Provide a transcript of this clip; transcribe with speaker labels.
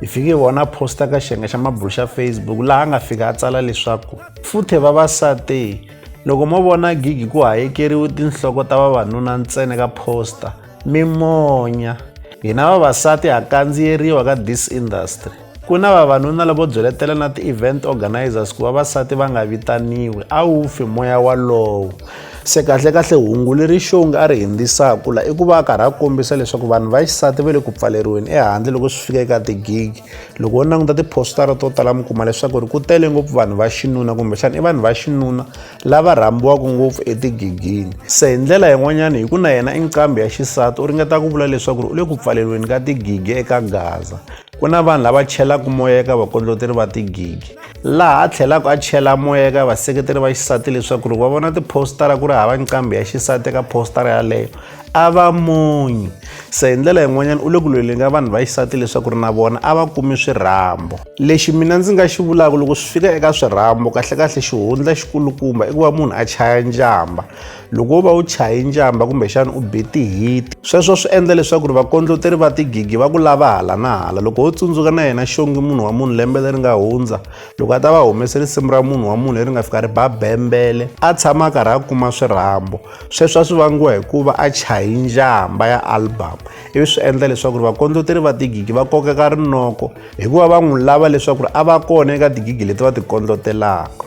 Speaker 1: hi fike hi vona posta ka xiyenge xa mabulu xa facebook laha a nga fika a tsala leswaku futhe vavasati loko mo vona gigi ku hayekeriwe tinhloko ta vavanuna ntsena ka posta mi monya hina vavasati ha kandziyeriwa ka this industry ku na vavanuna lavo byeletela na ti-event organizers ku vavasati va nga vitaniwi a wu fi moya walowo se kahlekahle hungu leri xongi a ri hindzisaka la i ku va a karhi a kombisa leswaku vanhu va xisati va le ku pfaleriweni ehandle loko swi fika eka tigigi loko wo languta tiphostara to tala mi kuma leswaku ri ku tele ngopfu vanhu va xinuna kumbexana i vanhu va xinuna lava rhambiwaka ngopfu etigigini se hi ndlela yin'wanyana hi ku na yena i nqambi ya xisati u ringeta ku vula leswaku ri u le ku pfaleriweni ka tigigi eka gaza Ku na vanhu lava chelaka moya eka vakondloteri va tigigi laha a tlhelaka a chela moya eka vaseketeri va xisati leswaku ri va vona tiphostara ku ri hava nqambi ya xisati eka phostara yaleyo a va munyi se hi ndlela yin'wanyana u le ku lweleni ka vanhu va xisati leswaku ri na vona a va kumi swirhambo lexi mina ndzi nga xi vulaka loko swi fika eka swirhambo kahlekahle xihundla xikulukumba i ku va munhu a chaya njhamba loko u va u chaye njamba kumbexana u be tihiti sweswo swi endla leswaku ri vakondloteri va tigigi va ku lava hala na hala loko ho tsundzuka na yena xongi munhu wa munhu lembe leri nga hundza loko a ta va humese risimu ra munhu wa munhu leri nga fika ri ba bembele a tshama a karhi a kuma swirhambo sweswo a swi vangiwa hikuva a chaye njamba ya album ivi swi endla leswaku ri vakondloteri va tigigi va kokeka rinoko hikuva va n'wi lava leswaku ri a va kona eka tigigi leti va ti kondlotelaka